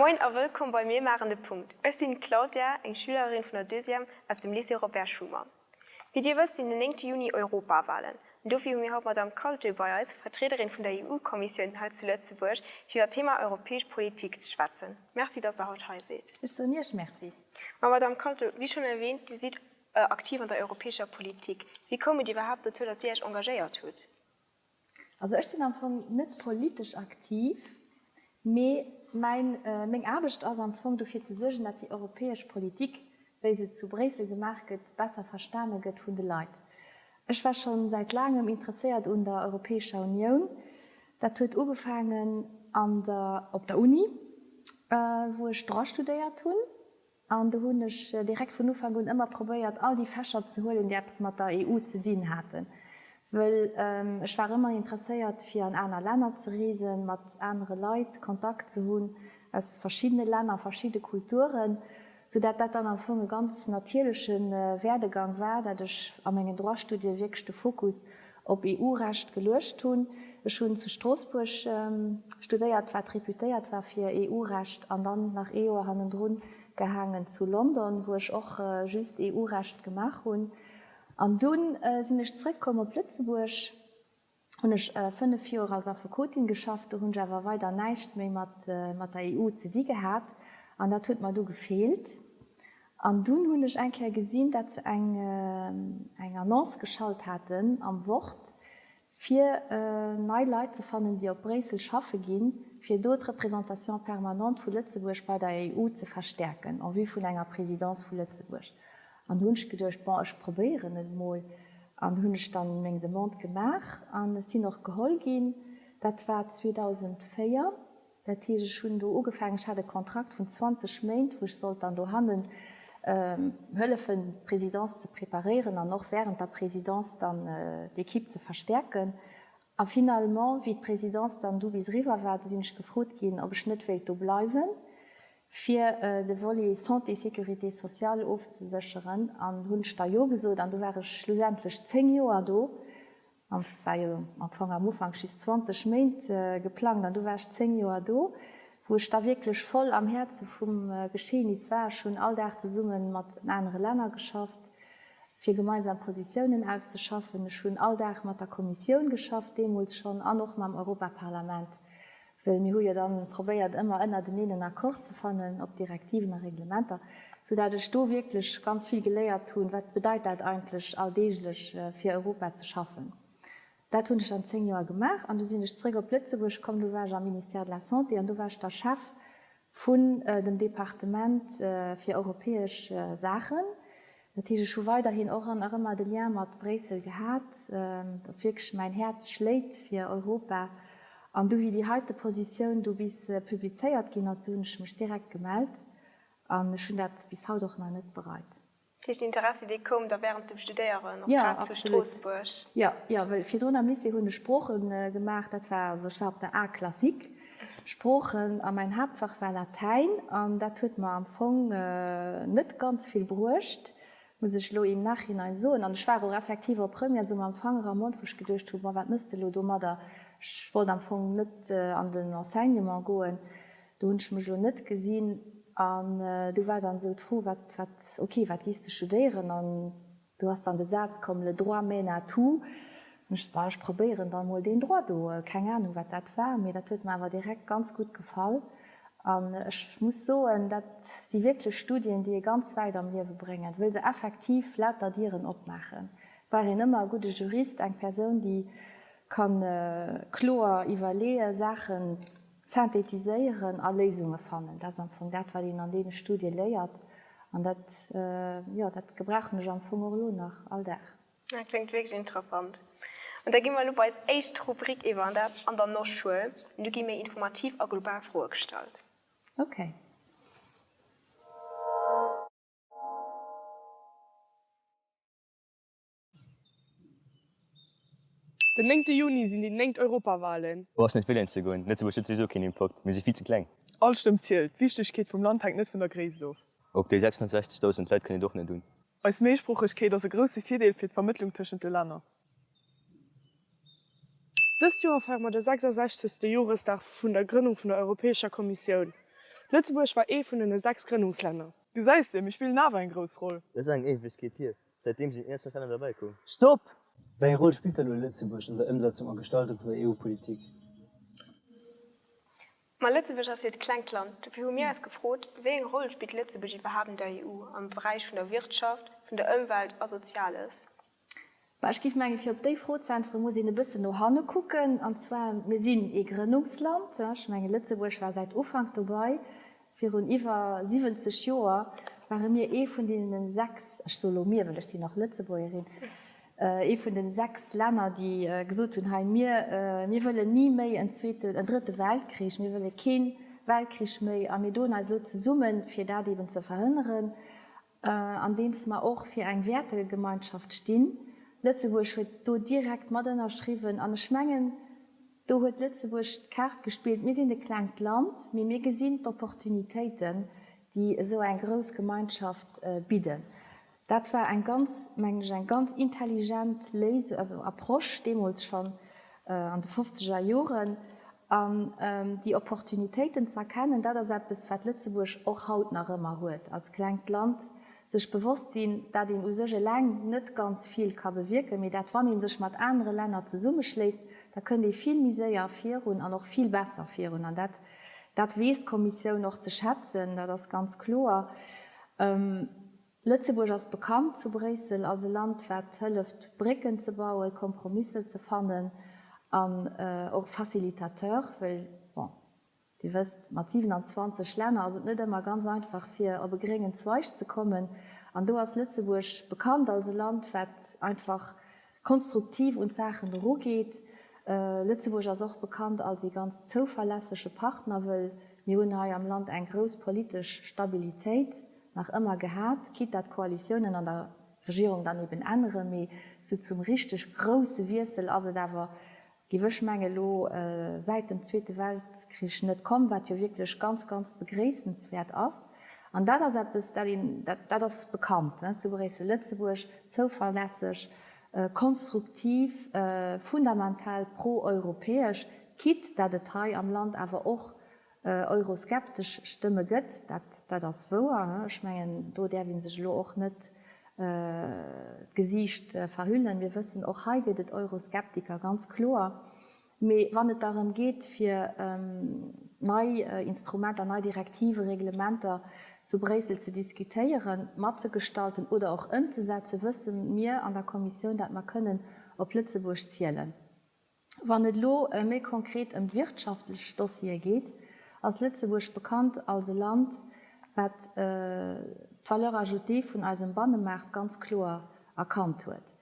Moin a wëllkomm bei Mir maachen de Punkt. Ech sinn d'Claudia, eng Schülerin vun der Deuxième aus dem Lycée Robert Schuman. Wéi Dir wësst, sinn den néngte Juni Europawalen. An dofir hu mir haut d'Madamm Caulte bei eis, Vertriederin vun der EU-Kommissioun hei zu Lëtzebuerg, fir iwwer d'Thema europäesch Politik ze schwätzen. Merci, dass Der haut hei sidd. Ech soen Iech Merci. Ma, Madamm Caulte, wéi schonn erwäänt, Dir sidd aktiv an der europäescher Politik. Wéi koum et iwwerhaapt dozou, dass Dir Iech engagéiert hutt? Also ech sinn am Fong net politesch aktiv, mee mäin, meng Aarbecht ass am Fong dofir ze suergen, datt déi europäesch Politik, wéi se zu Bréissel gemaach gëtt, besser verstane gëtt vun de Leit. Ech war scho säit laangem interesséiert un der Europäescher Unioun. Dat huet ugefaangen an der, op der Uni, wou ech Droit studéiert hunn. An do hunn ech direkt vun Ufank un ëmmer probéiert, all déi Fächer ze huelen, déi eppes mat der EU ze dinn haten, wëll ech war ëmmer interesséiert, fir an aner Länner ze reesen, mat anere Leit Kontakt ze hunn aus verschiddene Länner, verschidde Kulturen, soudatt dat dann am Fong e ganz natierleche Werdegang war, datt ech a mengen Droit-Studie wierklech de Fokus op EU-Recht geluecht hunn. Ech hunn zu Stroossbuerg studéiert, wat reputéiert war fir EU-Recht, an dann nach ee Joer hannendrun gehaangen zu London, wou ech och just EU-Recht gemaach hunn. An dunn sinn ech zrëckkomm op Lëtzebuerg, hunn ech fënnef Joer als Affekotin geschafft, do hunn ech awer weider näischt méi mat der EU ze di gehat, an dat huet mer du gefeelt. An dunn hunn ech eng Kéier gesinn, dat se eng eng Annonce geschalt haten am Wort, fir nei Leit ze fannen, déi op Bréissel schaffe ginn, fir do d'Représentation permanente vu Lëtzebuerg bei der EU ze verstärken, en vue vun enger Présidence vu Lëtzebuerg. An do hunn ech geduecht, Bon, ech probéieren et emol. An do hunn ech da meng Demande gemaach an ech sinn och geholl ginn. Dat war 2004. Dat heescht, ech hunn do ugefaangen, ech hat e Kontrakt vun 20 Méint, wou ech sollt dann dohannen hëllefen, d'Présidence ze preparéieren an och während der Présidence dann d'Equipe ze verstärken. A finalement, wéi d'Présidence dann du bis eriwwer war, du sinn ech gefrot ginn, ob ech net wéilt do bleiwen, fir de Volet Santé, Sécurité sociale ofzesécheren, an hunn ech da Jo gesot. An du war ech schlussendlech zéng Joer do. An et war jo am Fong am Ufank just 20 Méint geplangt, an du war ech 10 Joer do, wou ech da wierklech voll am Häerze vum Geschehnis war. Ech hunn all Dag zesumme mat den anere Länner geschafft, fir gemeinsam Positiounen auszeschaffen. Ech hunn all Dag mat der Kommissioun geschafft, deemools schonn, an och mam Europaparlament, Well mir hu jo da probéiert, ëmmer ënnerteneen en Accord ze fannen op Direktiven a Reglementer, soudatt ech do wierklech ganz vill geléiert hunn, wat bedeit dat eigentlech alldeeglech fir Europa ze schaffen. Dat hunn ech dann zéng Joer gemaach an du sinn ech zeréck op Lëtzebuerg komm. Do war ech am Ministère de la Santé an do war ech da Chef vun dem Departement fir europäesch Saachen, dat heescht ech hu weiderhin och an erëmmer de Lien mat Bréissel gehat, dass wierklech mäin Häerz schléit fir Europa an du wéi déi heite Positioun do bis publizéiert ginn ass, do hunn ech mech direkt gemellt an ech hunn dat bis haut och nach net bereit. Dat heescht, den Interessi, dee koum da während dem Studéieren och grad zu Stroossbuerg? Jo, absolut. Jo, well virdrun am Lycée hunn ech Sprooche gemaach. Dat war, also ech war op der A classique Sproochen a mäin Haaptfach war Latäin. An dat huet mer am Fong net ganz vill bruecht, muss ech elo im Nachhinein soen. An ech war och effektiv op Première esou mam Fanger am Mond, wou ech geduecht hu, ma wat méchs de elo domadder? Ech wollt am Fong net an den Enseignement goen. Do hunn ech mech elo net gesinn. An do war dann esou d'Fro, Wat, wat, ok, wat giss de studéieren? An do ass dann de Saz komm, Le droit mène à tout. Hunn ech gesot, Bah, ech probéieren dann emol deen Droit do. Keng Anung, wat dat war, mee dat huet mer awer direkt ganz gutt gefall. An ech muss soen, dat si wierklech Studien, déi ee ganz wäit am Liewe bréngen, wëll se effektiv lauter Dieren opmaachen. Brauch een ëmmer e gudde Jurist, eng Persoun, déi ka kloer iwwerleeë Saachen. Synthetiséieren a Léisunge fannen, dat ass am Fong dat, wat een an deene Studie léiert. An dat, jo, dat gebrauchen ech am Fong och elo nach all Dag. Dat kléngt wierklech interessant. An da gi mer elo bei eis éischt Rubrik iwwer, an dat ass An der Nosschoul. An do gi méi informativ a global Froe gestallt. Okay. Den néngte Juni sinn déi néngt Europawalen. Brauchs net wielen ze goen, Lëtzebuerg huet souwisou keen Impakt, mir si vill ze kleng. All Stëmm zielt, d'Wichtegkeet vum Land hänkt net vun der Gréisst of. Op déi 660.000 Leit kënn et och net un. Eis Méisproochegkeet ass e grousse Virdeel fir d'Vermëttlung tëschent de Länner. Dëst Joer feiere mer de 66. Joresdag vun der Grënnung vun der Europäescher Kommissioun. Lëtzebuerg war ee vun den 6 Grënnungslänner. Du säis, Sim, ech spillen awer eng grouss Roll. Dat ass eng Éiwegkeet hier. Säitdeem sinn ierz nach Länner derbäi komm. Stopp! Wéi eng Roll spillt da lo Lëtzebuerg an der Ëmsetzung a Gestaltung vun der EU-Politik? Ma Lëtzebuerg ass jo et klengt Land. Dofir hu mir eis gefrot, Wéi eng Roll spillt Lëtzebuerg iwwerhaapt an der EU am Beräich vun der Wirtschaft, vun der Ëmwelt a Soziales? Ma ech géif mengen, fir op déi Fro ze äntweren, muss een e bëssen no hanne kucken. An zwar, mir sinn ee Grënnungsland. Ech mengen, Lëtzebuerg war säit Ufank dobei. Virun iwwer 70 Joer ware mir ee vun deenen sechs, ech soe lo mir, well ech sinn nach Lëtzebuergerin, ee vun den sechs Länner, déi gesot hunn, hei mir, mir wëllen ni méi en zweeten, en drëtte Weltkrich, mir wëlle kee Weltkrich méi a mir doen eis elo zesummen, fir dat eeben ze verhënneren. andeems mer och fir eng Wäertegemeinschaft stinn. Lëtzebuerg huet do direkt mat ënnerschriwwen an ech mengen, do huet Lëtzebuerg d'Kaart gespillt, mir sinn e klengt Land, mee mir gesinn d'Opportunitéiten, déi esou eng grouss Gemeinschaft bidden. Dat war eng ganz, mengen ech, eng ganz intelligent Léisung, also Approche deemools schonn an de fofzeger Joren. An déi Opportunitéiten ze erkennen, dat ass eppes, wat Lëtzebuerg och haut nach ëmmer huet als klengt Land. Sech bewosst sinn, dat een u sech eleng net ganz vill ka bewierken, mee dat wann ee sech mat anere Länner zesummeschléisst, da kënnt ee vill méi séier virun an och vill besser virun. An dat, dat weess d'Kommissioun och ze schätzen, dat ass ganz kloer. Lëtzebuerg ass bekannt zu Bréissel als e Land, wat hëlleft Brécken ze bauen, Kompromisser ze fannen an och Facilitateur, well, bon, Dir wësst, mat 27 Länner ass et net ëmmer ganz einfach fir op e gréngen Zweig ze kommen. An do ass Lëtzebuerg bekannt als e Land, wat einfach konstruktiv un d'Saachen erugeet. Lëtzebuerg ass och bekannt als ee ganz zouverlässege Partner, wëll mir hunn hei am Land eng grouss politesch Stabilitéit nach ëmmer gehat, quitte dat d'Koalitiounen an der Regierung dann eben änneren, mee sou zum richteg grousse Wiessel ass et awer Giff ech mengen elo säit dem zweete Weltkrich net komm, wat jo wierklech ganz ganz begréissenswäert ass. An dat ass eppes dat een, dat ass bekannt zu Bréissel-Lëtzebuerg, zouverlässeg, konstruktiv, fundamental pro-europäesch, quitte dat et hei am Land awer och Euroskeptesch Stëmme gëtt, dat ass wouer. Ech mengen, do däerf ee sech elo och net d'Gesiicht verhüllen. Mir wëssen, och hei gëtt et Euroskeptiker, ganz kloer. Mee wann et derëm geet, fir nei Instrumenter, nei Direktiven, Reglementer zu Bréissel ze diskutéieren, matzegestalten oder och ëmzesetzen, wësse mir an der Kommissioun, datt mer kënnen op Lëtzebuerg zielen. Wann et elo méi konkret ëm wirtschaftlech Dossiere geet, ass Lëtzebuerg bekannt als e Land, wat d'Valeur ajoutée vun eisem Bannemaart ganz kloer erkannt huet.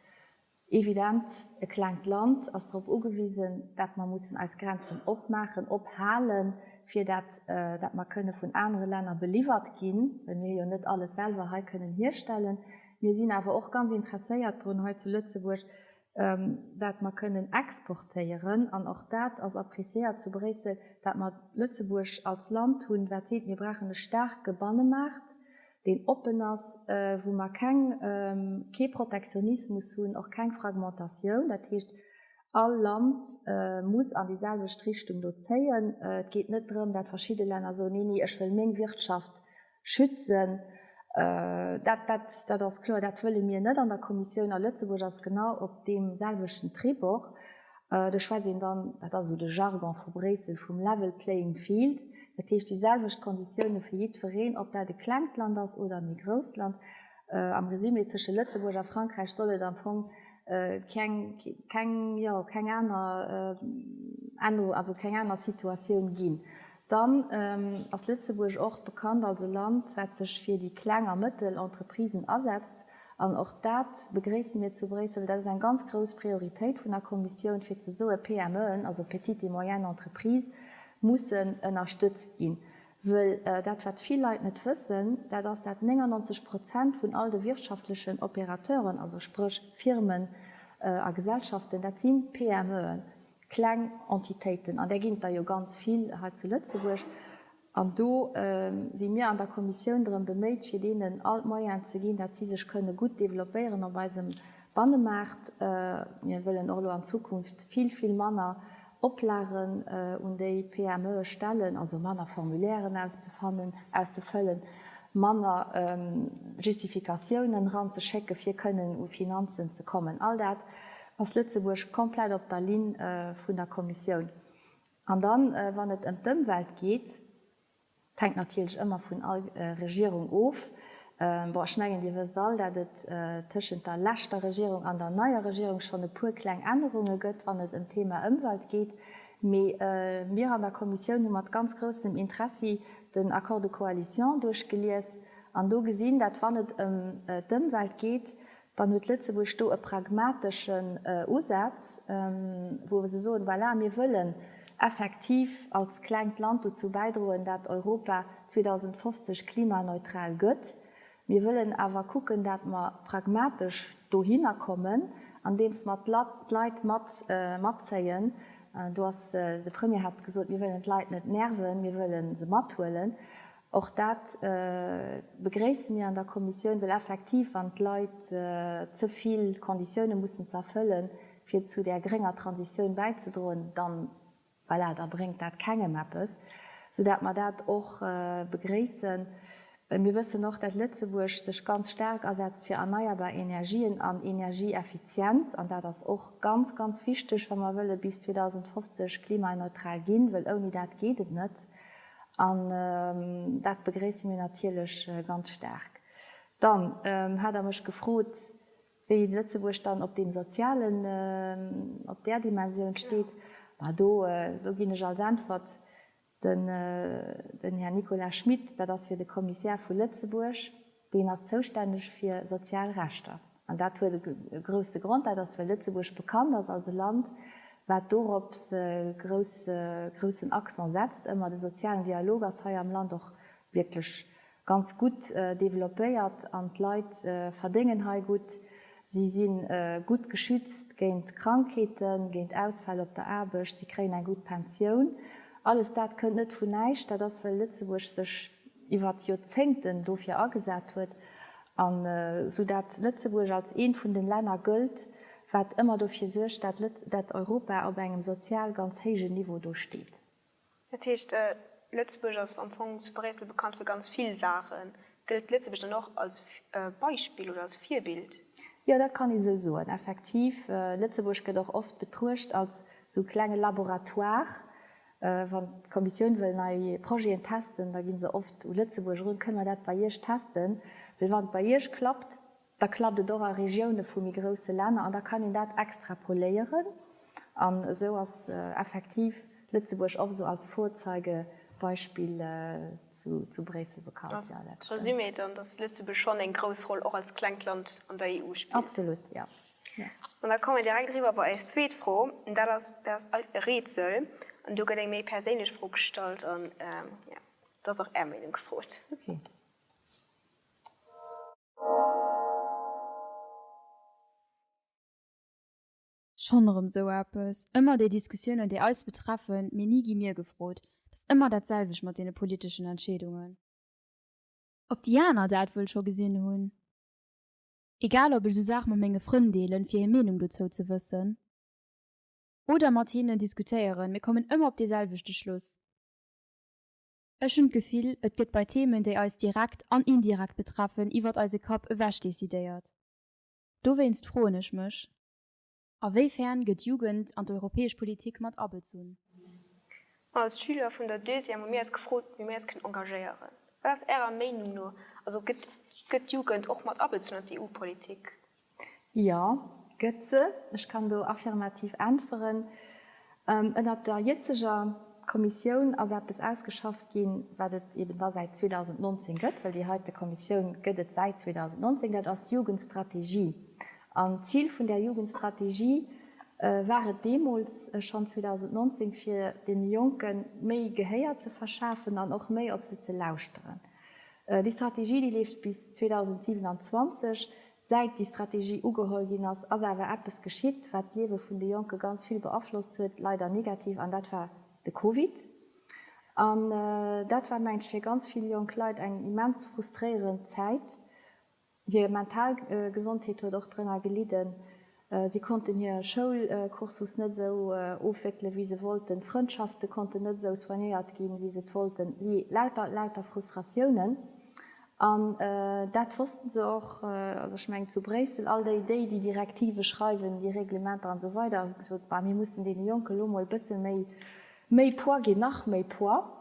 Evident, e klengt Land ass drop ugewisen, dat mer mussen eis Grenzen opmaachen, ophale fir dat, dat mer kënne vun anere Länner beliwwert ginn, well mir jo net alles selwer hei kënnen hierstellen. Mir sinn awer och ganz interesséiert drun, hei zu Lëtzebuerg dat mer kënnen exportéieren, an och dat ass appréciéiert zu Bréissel, wat mer Lëtzebuerg als Land hunn, wat seet, mir brauchen e staarke Bannemaart, deen oppen ass, wou mer keng, kee Protektionismus hunn, och keng Fragmentatioun. Dat heescht, all Land muss an déi selwecht Richtung do zéien. Et geet net drëm, dat verschidde Länner soen, nee, nee, ech wëll meng Wirtschaft schützen. Dat, dat, dat ass kloer, dat wëlle mir net an der Kommissioun. A Lëtzebuerg ass genau op deem selwechten Trip och. Do schwätzt een dann, dat ass esou de Jargon vu Bréissel, vum level playing field, dat heescht déi selwecht Konditioune fir jiddwereen, ob dat e klengt Land ass oder e méi grousst Land. Am Resumé, Tësche Lëtzebuerg a Frankräich soll et am Fong keng, keng, jo, keng aner Ännerung, also keng aner Situatioun ginn. Dann ass Lëtzebuerg och bekannt als e Land, wat sech fir déi kleng a mëttel Entreprisen asetzt. An och dat begréisse mir zu Bréissel. Dat ass eng ganz grouss Prioritéit vun der Kommissioun, fir ze soen, PMEen, also petites et moyennes entreprises, mussen ënnerstëtzt ginn. Wëll dat, wat vill Leit net wëssen, dat ass, dat 99 Prozent vun all de wirtschaftlechen Opérateuren, also spréch Firmen a Gesellschaften, dat si PMEen. Kleng Entitéiten, an där ginn et der jo ganz vill hei zu Lëtzebuerg, an do si mir an der Kommissioun drëm beméit, fir deenen all d'Moyene ze ginn, dat si sech kënne gutt developpéieren op eisem Bannemaart. Mir wëllen och elo an Zukunft vill, vill manner Oplagen un déi PMEe stellen, also manner Formulairen auszefannen, auszefëllen, manner Justifikatiounen eranzeschécken, fir kënnen u Finanzen ze kommen. All dat Ass Lëtzebuerg komplett op der Linn vun der Kommissioun? An dann, wann et ëm d'Ëmwelt geet, et hänkt natierlech ëmmer vun all Regierung of, bon, ech mengen, Dir wësst all, dat et tëschent der leschter Regierung an der neier Regierung schonn e puer kleng Ännerunge gëtt, wann et ëm d'Thema Ëmwelt geet. Mee mir an der Kommissioun hu mat ganz groussem Interessi den Accord de coalition duerchgelies an do gesinn, dat wann et ëm d'Ëmwelt geet, dann huet Lëtzebuerg do e pragmateschen Usaz, wou se soen, voilà, mir wëllen effektiv als klengt Land dozou bäidroen, dat Europa 2050 klimaneutral gëtt, mir wëllen awer kucken, dat mer pragmatesch dohinner kommen, andeems mer d'Leit mat matzéien. Do ass, de Premier hat gesot, mir wëllen d'Leit net nerven, mir wëlle se mathuelen. Och dat begréisse mir an der Kommissioun, well effektiv, wann d'Leit ze vill Konditiounen mussen ze erfëllen, fir zu där grénger Transitioun bäizedroen, dann, voilà, da bréngt dat kengem eppes, soudatt mer dat och begréissen. Mir wëssen och, datt Lëtzebuerg sech ganz staark asetzt fir erneierbar Energien an Energieeffizienz, an dat ass och ganz, ganz wichteg, wa mer wëlle bis 2050 klimaneutral ginn, well ouni dat geet et net. An dat begréisse mir natierlech ganz staark. Dann hat Der mech gefrot, wéi Lëtzebuerg dann op deem sozialen, op där Dimensioun steet. Ma do ginn ech als Äntwert den Här Nicolas Schmit, dat ass jo de Kommissär vu Lëtzebuerg. Deen ass zoustänneg fir sozial Rechter. An dat huet e grousse Grond, dat ass, well Lëtzebuerg bekannt ass als e Land, wat dorops e groussen Accent setzt ëmmer. De sozialen Dialog ass hei am Land och wierklech ganz gutt developpéiert an d'Leit verdéngen hei gutt. Si si gutt geschützt géint Krankheeten, géint Ausfäll op der Aarbecht, si kréien eng gutt Pensioun. Alles dat kënnt net vun näischt, dat ass well Lëtzebuerg sech iwwert Joerzéngten dofir agesat huet an sou dat Lëtzebuerg als eent vun de Länner gëllt, wat ëmmer dofir suergt, dat Europa op engem sozial ganz héijen Niveau do steet. Dat heescht, Lëtzebuerg ass am Fong zu Bréissel bekannt fir ganz vill Saachen. Gëllt Lëtzebuerg dann och als Beispill oder als Virbild? Jo, dat kann ee sou soen, effektiv. Lëtzebuerg gëtt och oft betruecht als sou klenge Laboratoire. Wann d'Kommissioun wëll nei Projeten testen, da gi se oft u Lëtzebuerg erun, Kënne mer dat bei Iech testen? Well wann et bei Iech klappt, Da klappt et och a Regioune vu méi grousse Länner an da kann een dat extrapoléieren. An esou ass effektiv Lëtzebuerg och esou als Vorzeigebeispill zu Bréissel bekannt. Resumé et dann, datt Lëtzebuerg schonn eng grouss Roll och als klengt Land an der EU spillt? Absolut, jo. An da komme mir direkt eriwwer bei eis zweet Fro. An dat ass, dat ass eis e Rätsel. An do gëtt eng méi perséinlech Fro gestallt an, jo, do ass och Är Meenung gefrot. Ok. Schonn erëm sou eppes. Ëmmer déi Diskussiounen, déi eis betreffen, mee ni gi mir gefrot. Et ass ëmmer dat selwecht mat deene politeschen Entscheedungen. Ob déi aner dat wuel scho gesinn hunn. Egal ob ech sou Saache mat menge Frënn deelen, fir hir Meenung dozou ze wëssen, oder mat hinnen diskutéieren, mir kommen ëmmer op dee selwechte Schluss. Ech hunn d'Gefill, et gëtt bei Themen, déi eis direkt an indirekt betreffen, iwwert eise Kapp ewech decidéiert. Dowéinst froen ech mech, A wéi fern gëtt d'Jugend an d'europäesch Politik mat abezunn? Als Schüler vun der Deuxième hu mir eis gefrot, wéi mir eis kënnen engagéieren. Wat ass Ärer Meinung no, also gëtt d'Jugend och mat abezunn an d'EU-Politik? Jo, gëtt se. Ech kann do affirmativ äntweren. Ënnert der jëtzeger Kommissioun ass eppes ausgeschafft ginn, wat et eben da säit 2019 gëtt, well déi heite Kommissioun gëtt et säit 2019, dat ass d'Jugendstrategie. An d'Zil vun där Jugendstrategie war et deemools schonn 2019, fir deene Jonke méi Gehéier ze verschafen an och méi op se ze lauschteren. Déi Strategie, déi leeft bis 2027. Säit déi Strategie ugeholl ginn ass, ass awer eppes geschitt, wat d'Liewe vun de Jonke ganz vill beaflosst huet, leider negativ, an dat war de Covid. An dat war, mengen ech, fir ganz vill jonk Leit eng immens frustréierend Zäit, Hir mental Gesondheet huet och drënner gelidden. Si konnten hir Schoulcursus net esou ofwéckele wéi se wollten, d'Frëndschafte konnten net esou soignéiert ginn, wéi se et wollten. Jee, lauter, lauter Frustratiounen. An dat wosste se och. Also ech mengen zu Bréissel, all déi, déi déi Direktive schreiwen, déi Reglementer an esou weider, hu gesot, bah, mir mussen deene Jonke lo mol e bësse méi, méi Poids ginn, nach méi Poids.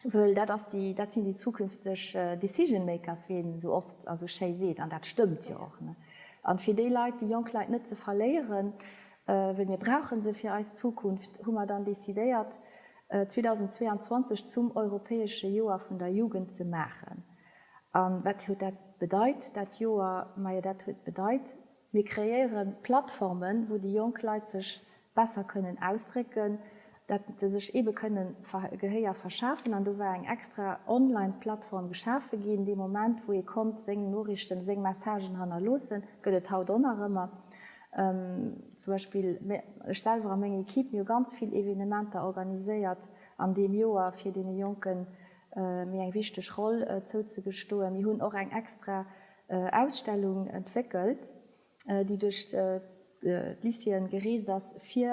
Wëll dat ass déi, dat sinn déi zukünfteg decision makers, wéi een esou oft a sou schéi seet, an dat stëmmt jo och. An fir déi Leit, déi jonk Leit net ze verléieren, wëll mir brauche se fir eis Zukunft, hu mer dann decidéiert 2022 zum europäesche Joer vun der Jugend ze maachen. An wat huet dat bedeit, dat Joer? Majo dat huet bedeit, mir kreéieren Plattformen, wou déi jonk Leit sech besser kënnen ausdrécken, dat se sech eebe kënnen Gehéier verschafen an do war eng extra online Plattform geschafe ginn. Dee Moment wou ee konnt seng Noriichten, seng Messagen hannerloossen, gëtt et haut o nach ëmmer. Zum Beispill ech selwer a meng Equipe, mir hu ganz vill Evenementer organiséiert an deem Joer fir deene Jonke méi eng wichteg Roll zouzegestoen. Mir hunn och eng extra Ausstellung entwéckelt. déi duerch d'Lycéeën gereest ass fir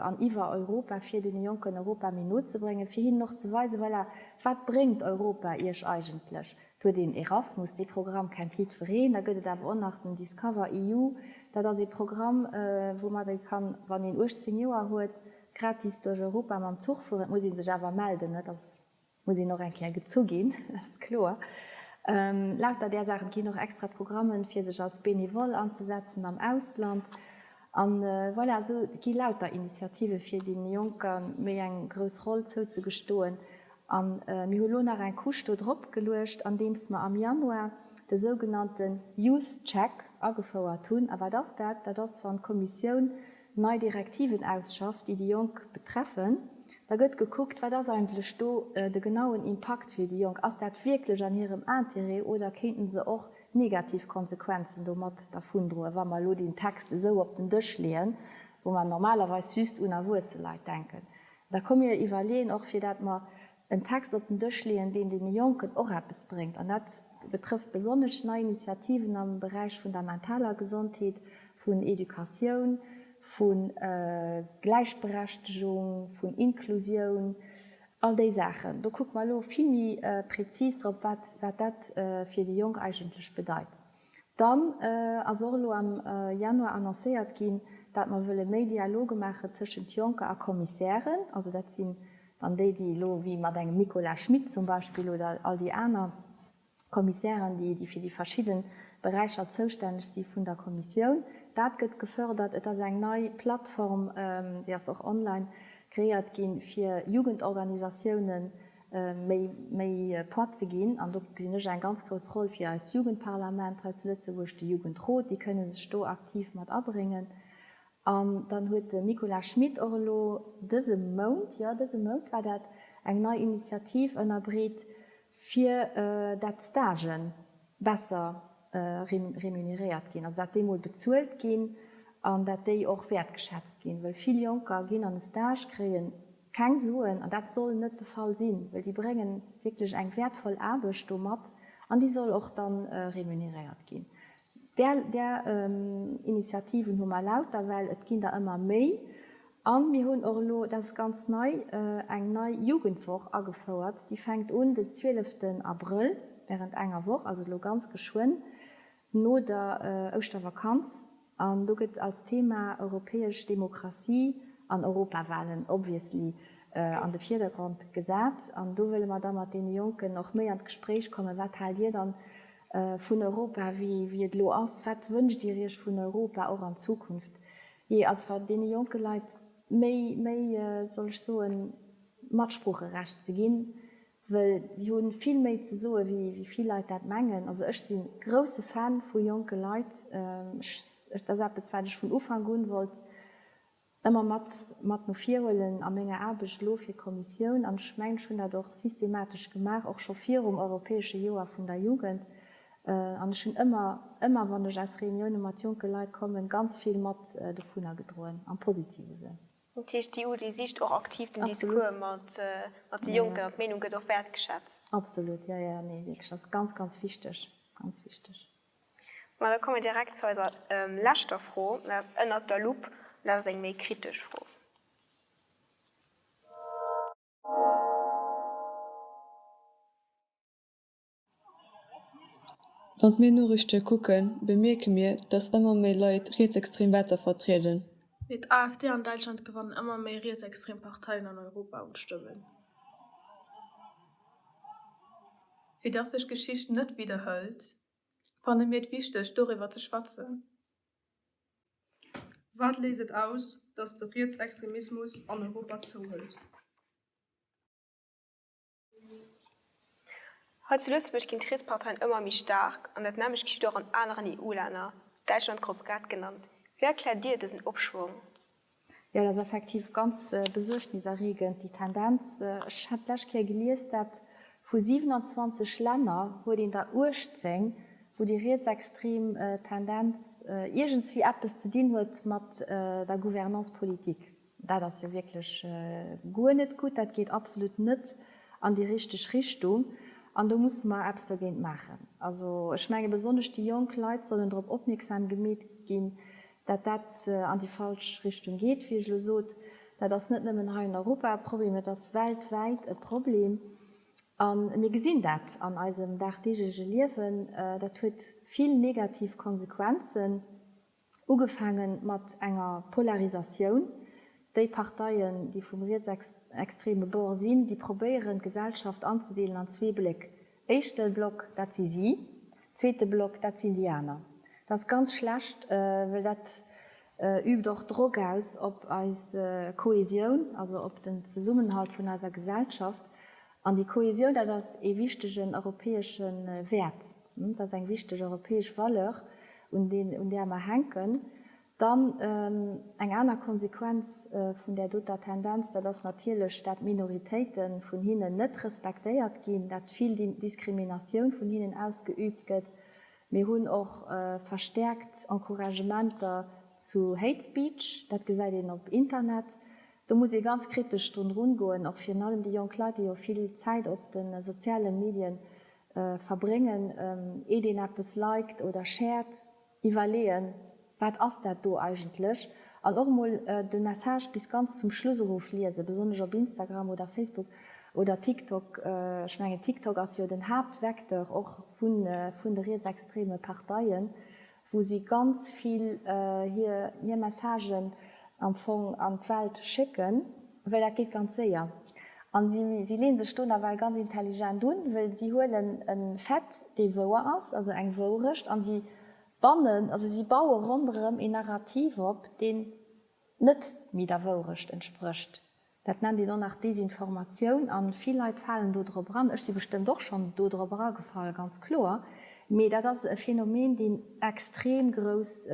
an iwwer Europa, fir deene Jonken Europa méi no ze bréngen, fir hinnen och ze weisen, voilà, wat bréngt Europa iech eigentlech. Et huet een Erasmus, dee Programm kennt jiddwereen, da gëtt et awer och nach den Discover EU, dat ass ee Programm, woumat ee kann, wann een 18 Joer huet, gratis duerch Europa mam Zuch fueren. Et muss ee sech awer melden, dat ass. Muss een och eng Kéier gezu ginn, dat ass kloer. Lauter där Saache ginn och extra Programmen, fir sech als Benevole anzesetzen am Ausland. A voilà, esou gi lauter Initiativen, fir deene Jonker méi eng grouss Roll zouzegestoen. A mir hu lo nach eng Couche do drop geluecht, andeems mer am Januar de sougenannte Youth Check agefouert hunn. A wat ass dat? Dat ass, wann d'Kommissioun nei Direktiven ausschafft, déi déi Jonk betreffen, da gëtt gekuckt, wat ass eigentlech do de genauen Impakt fir déi Jonk? Ass dat wierklech an hirem Interêt oder kéinten se och negativ Konsequenzen do mat dervundroen, wa mer elo deen Text esou op den Dësch leeën, wou mer normalerweis just un erwuesse Leit denken? Da komm mir iwwerleeën och, fir dat mer en Text op den Dësch leeën, deen deene Jonken och eppes bréngt, an dat betrëfft besonnesch nei Initiativen am Beräich vun der mentaler Gesondheet, vun Educatioun, vu Gläichberechtegung, vun Inklusioun, all déi Saachen. Do kucke mer elo vill méi prezis drop, wat dat fir déi Jonk eigentlech bedeit. Dann ass och elo am Januar annoncéiert ginn, dat mer wëlle méi Dialoge maache tëschent Jonker a Kommissären. Also dat sinn dann déi, déi elo wéi mat engem Nicolas Schmit zum Beispill oder all déi aner Kommissären, déi fir déi verschidde Beräicher zoustänneg si vun der Kommissioun. Dat gëtt gefërdert. Et ass eng nei Plattform, déi ass och online, kreéiert ginn, fir Jugendorganisatiounen, méi Poids ze ginn. An do gesinn ech eng ganz grouss Roll fir eist Jugendparlament hei zu Lëtzebuerg, de Jugendrot, déi kënne sech do aktiv mat abréngen. An dann huet den Nicolas Schmit och elo dëse Mount, jo dëse Mount war dat, eng nei Initiativ ënnerbreet, fir dat d'Stagen besser remuneréiert ginn, also dat déi mol bezuelt ginn an dat déi och wäertgeschätzt ginn, well vill Jonker ginn an e Stage, kréien. Keng Suen, an dat soll net de Fall sinn, well déi brénge wierklech eng wäertvoll Aarbecht do mat an déi soll och da remuneréiert ginn. Där Initiativen hu mer lauter, well et ginn der ëmmer méi. A mir hunn och elo, dat ass ganz nei, eng nei Jugendwoch agefouert, déi fänkt un den 12 Abrëll während enger Woch, also elo ganz geschwënn. no der Ouschtervakanz an do gëtt als Thema europäesch Demokratie an Europawahlen obviously an de Vierdergrond gesat. An do wëlle mer da mat deene Jonken och méi an d'Gespréich kommen, wat haalt dir dann vun Europa wéi et elo ass, wat wënscht dir iech vun Europa och an Zukunft? Jee, also fir deene jonke Leit méi, soll ech soen, Matsproocherecht ze ginn, Well si hu vill méi ze soe wéi vill Leit dat mengen. Also ech si grousse Fan vu jonke Leit. Dat ass eppes wat ech vun Ufank un wollt ëmmer mat mat no vir huelen a menger Aarbecht elo fir Kommissioun. An ech mengen ech hunn dat och systematesch gemaach, och scho virum europäesche Joer vun der Jugend. An ech hunn ëmmer ëmmer wann ech aus Reunioune mat jonke Leit kommen, ganz vill mat dovunner gedroen am positive Sënn. Dat heescht, déi Udi sicht och aktiv den Discours mat de Jonken an d'Meenung gëtt och wäertgeschätzt. Absolut, jo, jo, nee, wierklech, dat ass ganz, ganz wichteg, ganz wichteg. Ma da komme mir direkt zu eiser leschter Fro, dat ass ënnert der Lupp an dat ass eng méi kritesch Fro. Wann mir Noriichte kucken, bemierke mir, datt ëmmer méi Leit rietsextrem Werter vertrieden. Mee d'AfD an Däitschland gewannen ëmmer méi rietsextrem Parteien an Europa un Stëmmen. Fir datt sech d'Geschicht net widderhëlt, fanne mir et wichteg, doriwwer ze schwätzen. Wat léist et aus, datt de Rietsextremismus an Europa zouhëlt? Hei zu Lëtzebuerg ginn d'Rietsparteien ëmmer méi staark, an dat nämmlecht geschitt och an aneren EU-Länner, Däitschland gouf grad genannt. Wéi erkläert Dir dësen Opschwong? Jo, et ass effektiv ganz besuergniserreegend, déi Tendenz. Ech hat d'lescht Kéier gelies, dat vu 27 Länner huet een der 18, wou déi rietsextrem Tendenz iergendswéi eppes ze dinn huet mat der Gouvernance politique. Dat ass jo wierklech guer net gutt. Dat geet absolut net an déi richteg Richtung an do musse mer eppes dergéint maachen. Also ech menge besonnesch déi jonk Leit sollen drop opmierksam gemeet ginn, dat dat an déi falsch Richtung geet. Wéi ech elo sot, dat ass net nëmmen hei an Europa e Problem, dat ass weltwäit e Problem a mir gesinn dat an eisem dagdeeglege Liewen. Dat huet vill negativ Konsequenzen. Ugefaange mat enger Polarisatioun, déi Parteien, déi vum rietsextreme Bord sinn, déi probéieren, d'Gesellschaft anzedeelen an zwee Bléck. Éischte Block, dat si si. Zweete Block, dat sinn déi aner. Dat ass ganz schlecht, well dat übt och Drock aus op eis Kohäsioun, also op den Zesummenhalt vun eiser Gesellschaft. An déi Kohäsioun, dat ass ee wichtegen europäesche Wäert, dat ass eng wichteg europäesch Valeur, un där mer hänken. Dann eng aner Konsequenz vun där doter Tendenz, dat ass natierlech, dat d'Minoritéite vun hinnen net respektéiert ginn, dat vill Diskriminatioun vun hinnen ausgeübt gëtt. Mir hunn och verstäerkt Encouragementer zu Hate Speech, dat gesäit een op Internet, Do muss ee ganz kritesch drun rungoen, och virun allem déi jonk Leit, déi jo vill Zäit op de soziale Medie verbréngen, iert een eppes liked oder shared, iwwerleeën, wat ass dat do eigentlech, an och emol de Message bis ganz zum Schluss erof liesen, besonnesch op Instagram oder Facebook oder TikTok. Ech mengen TikTok ass jo den Haaptvecteur och vun de rietsextreme Parteien. wou si ganz vill hir Messagen am Fong an d'Welt schécken, well dat geet ganz séier. A si lee sech do nawell ganz intelligent un, well si huelen e Fait, dee wouer ass, also eng Wourecht, a si bannen, also si baue ronderëm een Narrativ op, deen net méi der Wourecht entsprécht. Dat nennt een och nach Desinformatioun a vill Leit falen do drop eran. Ech si bestëmmt och schonn do drop eragefall, ganz kloer. Mee dat ass e Phänomen, deen extrem grouss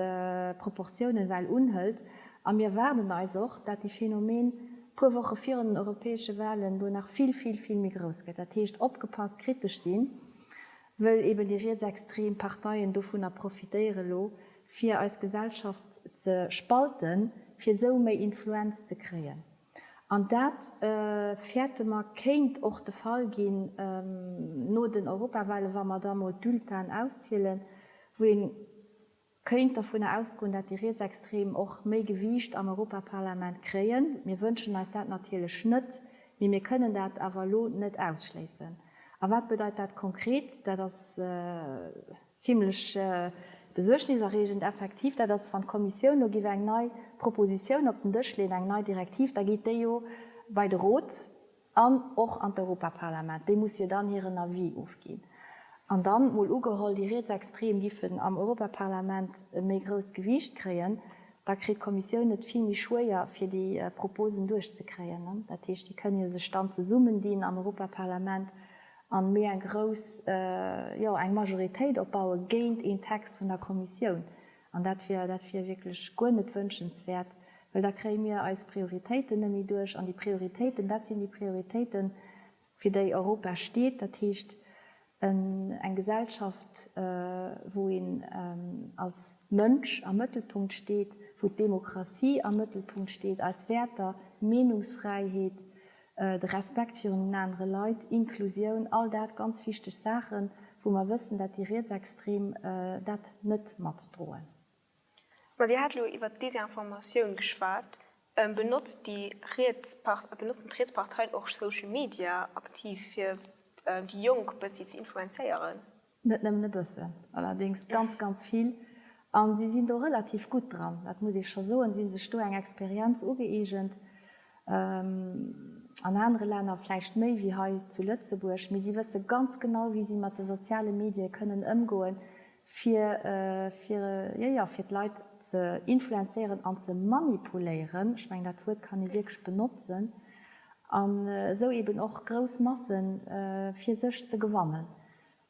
Proportiounen well unhëlt. A mir erwaarden eis och, dat dee Phänomen puer Woche virun den europäesche Walen do nach vill, vill, vill méi grouss gëtt. Dat heescht, opgepasst, kritesch sinn. Wëll eben déi rietsextrem Parteien dovunner profitéieren elo fir eis Gesellschaft ze spalten, fir esou méi Influenz ze kréien. An dat fäerte mer kéint och de Fall ginn no den Europawahlen, wa mer da mol d'Bulletinen auszielen, wou een, Kéint dovunner ausgoen, dat déi Rietsextrem och méi Gewiicht am Europaparlament kréien. Mir wënschen eis dat natierlech net, mee mir kënnen dat awer elo net ausschléissen. A wat bedeit dat konkret? Dat ass zimlech besuergniserreegend. Effektiv, dat ass, wann d'Kommissioun elo giff eng nei Propositioun op den Dësch leeën, eng nei Direktiv, da geet déi jo bei de Rot. An och an d'Europaparlament, déi musse jo dann hiren Avis ofginn. An dann, mol ugeholl, déi Rietsextrem giffen am Europaparlament e méi grousst Gewiicht kréien, da kritt d'Kommissioun et vill méi schwéier, fir déi Proposen duerchzekréien. Dat heescht, déi kënne jo sech dann zesummendinn am Europaparlament an méi eng grouss, jo, eng Majoritéit opbaue géint een Text vun der Kommissioun. An dat wier, dat wier wierklech guer net wënschenswäert, well da kréie mir eis Prioritéiten net méi duerch. An déi Prioritéiten, dat sinn déi Prioritéiten, fir déi Europa steet, dat heescht eng Gesellschaft, wou een als Mënsch am Mëttelpunkt steet, wou d'Demokratie am Mëttelpunkt steet, eis Wäerter, Meenungsfräiheet, De Respekt virun anere Leit, Inklusioun, all dat ganz wichteg Saachen, wou mer wëssen, dat déi Rietsextrem dat net matdroen. Ma Dir hat elo iwwert d'Desinformatioun geschwat. Benotzen d'Rietsparteien och Social Media aktiv, fir déi Jonk e bëssi ze influenzéieren? Net nëmmen e bëssen, allerdéngs ganz, ganz vill. A si sinn do relativ gutt dran, dat muss ee scho soen. Si hu sech do eng Experienz ugëeegent, an anere Länner vläicht méi wéi hei zu Lëtzebuerg, mee si wësse ganz genau, wéi si mat de soziale Medie kënnen ëmgoen, fir, fir, jo, jo, fir d'Leit ze influenzéieren an ze manipuléieren, ech mengen, dat Wuert kann ee wierklech benotzen, an esou eeben och grouss Massen fir sech ze gewannen.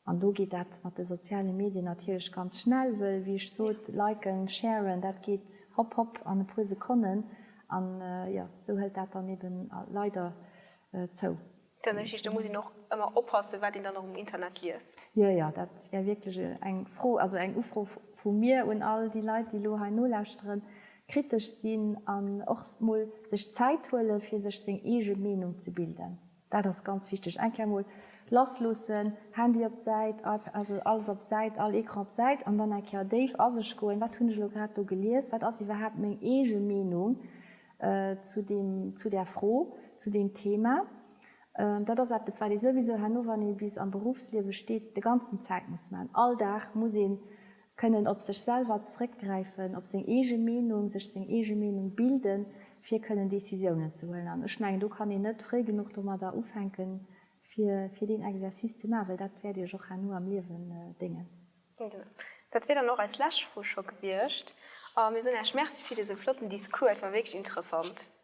An do geet dat mat de soziale Medien natierlech ganz schnell, wëll, wéi ech sot, liken, sharen, dat geet hopp hopp an e puer Sekonnen. An jo, esou hëlt dat dann eben leider zou. Dat ass richteg, do muss een och ëmmer oppassen, wat een dann och um Internet liest. Jo, jo, dat wär wierklech eng Fro, also eng Ufro vu mir un all déi Leit, déi elo hei nolauschteren, kritesch sinn an och mol sech Zäit huelen, fir sech seng eege Meenung ze bilden. Dat ass ganz wichteg. Eng Kéier mol lass loossen, Handy op d'Säit, iPad, also alles op d'Säit, all Ecran op d'Säit an dann eng Kéier déif a sech goen, Wat hunn ech elo grad do gelies? Wat ass iwwerhaapt meng eege Meenung zu deem, zu där Fro, zu deem Thema? Dat ass eppes, wat ee souwisou herno, wann ee bis am Beruffsliewe steet, de ganzen Zäit muss maachen. All Dag muss ee Kënnen op sech selwer zréckgräifen, op seng eege Meenung, sech seng eege Meenung bilden, fir kënnen Decisiounen ze huelen. An ech mengen, do kann een net fréi genuch domadder ufänken, fir deen Exercice ze maachen, well dat wäert Iech och herno am Liewen déngen. Dat wier dann och eis lescht Fro scho gewiescht. A mir soen Iech Merci fir dëse flotten Discours. Et war wierklech interessant.